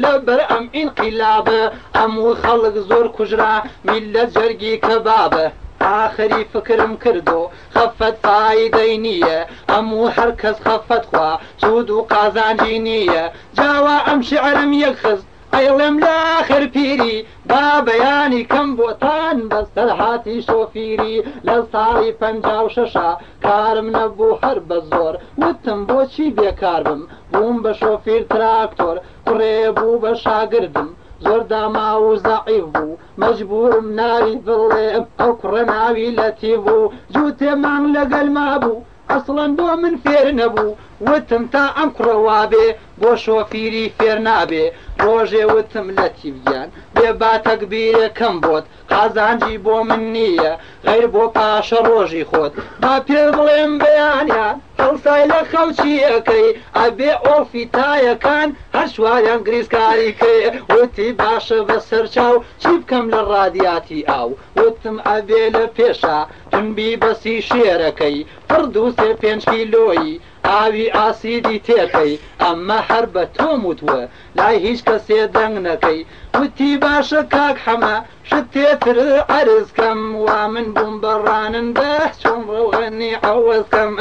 لەبەر ئەم ئینقیلابە هەموو خەڵک زۆر کوژرا میللەت جەرگی کەبابە ئاخری فکرم کردۆ خەفەت فایدەی نییە هەموو هەر کەس خەفەت خوا سوود و قازانجی نییە جاوا ئەم شعرەم یەک خست ئەیڵێم لە ئاخر پیری با بەیانی کەم بۆتان بەسەرهاتی شۆفیری لە ساڵی پەنجا و شەشا کارم نەبوو هەر بە زۆر وتم بۆچی بێکار بم بووم بە شۆفیر تراکتۆر کوڕێ بوو بە شاگردم زۆر داماو و زەعیف بوو مەجبوورم ناوی بڵێم ئەو کوڕە ناوی لەتیف بوو جووتێ مانگ لەگەلما بوو ئەسڵەن بۆ من فێر نەبوو وتم تا ئەم کوڕە وابێ بۆ شۆفیری فێر نابێ ڕۆژێ وتم لەتیف گیان بێ با تەگبیرێکم بۆت قازانجی بۆ من نییە غەیر بۆ پاشە ڕۆژی خۆت با پێت بڵێم بەیانیان هەڵسای لە خەوچییەکەی ئەبێ ئۆڵفی تایەکان هەر چواریان گریسکاری کەێ وتی باشە بەسەرچاو چی بکەم لە ڕادیاتی ئاو وتم ئەبێ لە پێشا تمبی بەسی شێرەکەی تڕ دوو سێ پێنج کیلۆی ئاوی ئاسیدی تێکەی ئەمە هەر بە تۆم وت وە لای هیچ کەسێ دەنگ نەکەی وتی باشە کاک حەمە شت تێ تر عەرز کەم وا من بووم بە ڕانندە چۆن ڕەوغەنی عەوەز کەم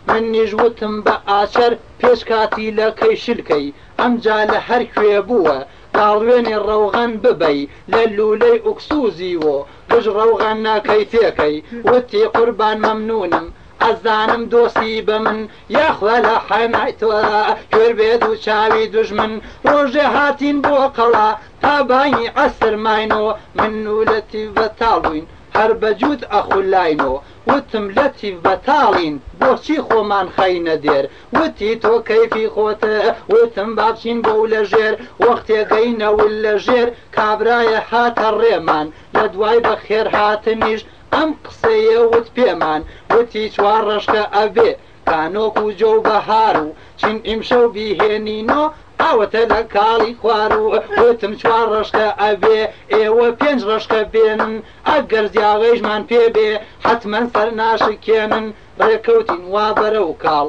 منیش وتم بە ئاچەر پێش کاتی لە کەی شلکەی ئەمجا لە هەر کوێ بووە تاڵوێنی ڕەوغەن ببەی لە لوولەی ئوکسوزی وۆ گژ ڕەوغەنە کەی تێکەی وتی قوربان مەمنونم ئەزانم دۆستی بە من یاخوا لە حەنای تۆرا کوێر بێ دوو چاوی دوژمن ڕۆژێ هاتین بۆ قەڵا تا بانگی عەسر ماینۆ من و لەتیف بە تاڵوین هەر بە جووت ئەخولاینۆ وتم لەتیف بە تاڵین بۆچی خۆمان خەینە دێر وتی تۆ کەیفی خۆتە وتم با بچین بۆ و لە ژێر وەختێ گەینە و لە ژێر کابرایە هاتە ڕێمان لە دوای بە خێر هاتنیش ئەم قسەیە وت پێمان وتی چوار ڕەشکە ئەبێ کانۆک و جۆ و بەهار و چین ئیمشەو بیهێنینۆ ئاوەتە لە کاڵی خوار و وتم چوار ڕەشکە ئەبێ ئێوە پێنج ڕەشکە بێنن ئەگەر زیاوەیشمان پێ بێ حەتمەن سەر ناشکێنن ڕێکەوتین وا بەرەو کاڵ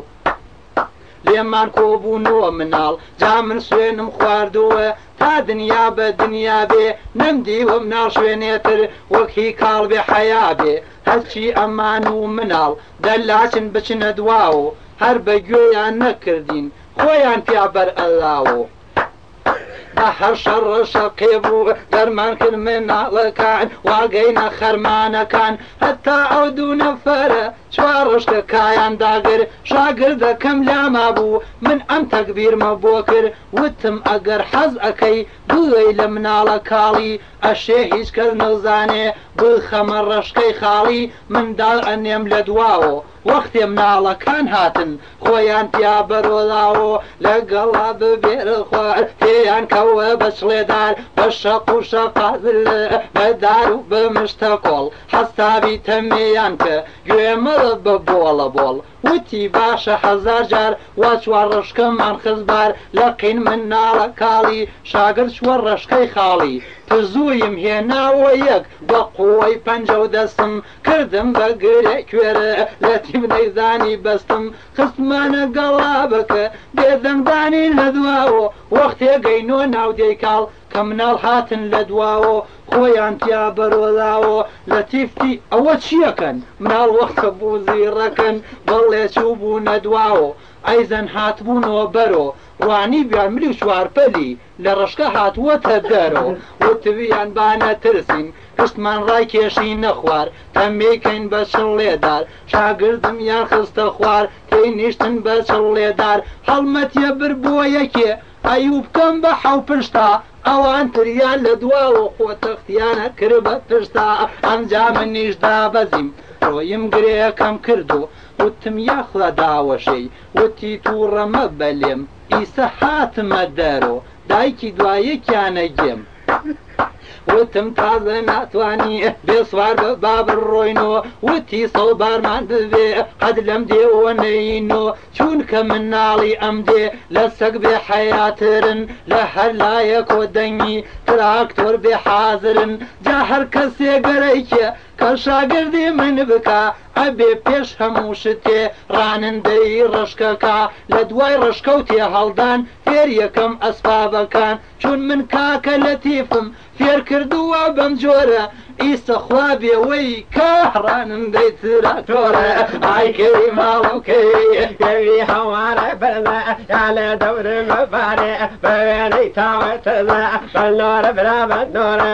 لێمان کۆبوونەوە مناڵ جا من سوێنم خواردووە تا دنیا بە دنیا بێ نەم دیوە مناڵ شوێنێتر وەک هی کاڵ بێ حەیا بێ هەرچی ئەمان و مناڵ دەلاچن بچنە دواوە هەر بە گوێیان نەکردین خۆیان پیا بەرئەلاوە. هەرشەڕ ڕەشەقێ بوو دەرمان کرد مناڵەکان واگەینە خەرمانەکان هەتا ئەو دوو نەفەرە چوار ڕشتە کایان داگر شاگردەکەم لاما بوو من ئەم تەکبیرمە بۆ کرد وتم ئەگەر حەز ئەەکەی بڵێ لە مناڵە کاڵی ئەشێ هیچ کەس نەوزانێ بخەمە ڕەشکەی خاڵی منداڵ ئەنێم لە دواوە وەختێ مناڵەکان هاتن خۆیان پیا بەرۆلاوۆ لە گەڵا ببێرە خوار پێیان کەوە بە چڵێدار بە شەق و شەقابل بە دار و بە مشتە کۆڵ حەستابی تەمێیان کە گوێ مەڵە بە بۆڵە بۆڵ وتی باشە هەزار جار وا چوار ڕشکەمان خست بار لە قین مناڵە کاڵی شاگرد چووە ڕشکەی خاڵی تزوویم هێناوە یەک بە قووەی پەنجە و دەستم کردم بە گرێ کوێر لەتیم نەیزانی بەستم خستمانە گەڵابەک بێ دەنگدانی لە دواوە وەختێ گەینۆ ناودێی کاڵ کە مناڵ هاتن لە دواوە خۆیان تیا بەرۆلاوە لەتیف تی ئەوە چیەکەن مناڵ وەختە بوو زیڕەکن بەڵێ چوبونە دواوە ئەیزەن هاتبونۆ بەرۆ وانی بیان ملی و چوارپەلی لە ڕەشکە هاتووەتە دەرەوە وتویان با نەترسین پشتمان ڕاکێشینە خوار تەمبێی کەین بە چڵێ دار شاگردمیان خستە خوار تێینیشتن بە چڵێ دار هەڵمەتیە بر بۆ یەکێ ئەیوب کەم بە حەو پشتا ئەوان تریان لە دواوە خۆ تەختیانە کرد بە پشتا ئەمجا منیش دابەزیم ڕۆیم گرێیەکەم کردو وتم یاخوا داوەشێی وتی تووڕە مەبە لێم ئیسە هاتمە دەرۆ دایکی دوا یەکیانە گێم وتم تازە ناتوانی بێ سوار بە با بڕۆینۆ وتی سەو بارمان ببێ قەد لەم دێوە نەینۆ چونکە مناڵی ئەم دێ لە سەگ بێ حەیاترن لە هەر لایەکۆ دەنگی تراکتۆر بێ حازرن جا هەر کەسێ گەرەکێ کە شاگردی من بکا ئەبێ پێش هەموو شتێ ڕانندەی ڕەشکەکا لە دوای ڕەشکەو تێهەڵدان فێر یەکەم ئەسبابەکان چون من کاکە لەتیفم فێر کردووە بەم جۆرە ئیستە خوا بێوەی کە ڕانندەی تراکتۆرە ئای کەی ماڵم کەی گەوی هەوارە بەرزە یا لە دەورم بەبارێ بە وێنەی تاوە تەزە بە نۆرە برا بە نۆرە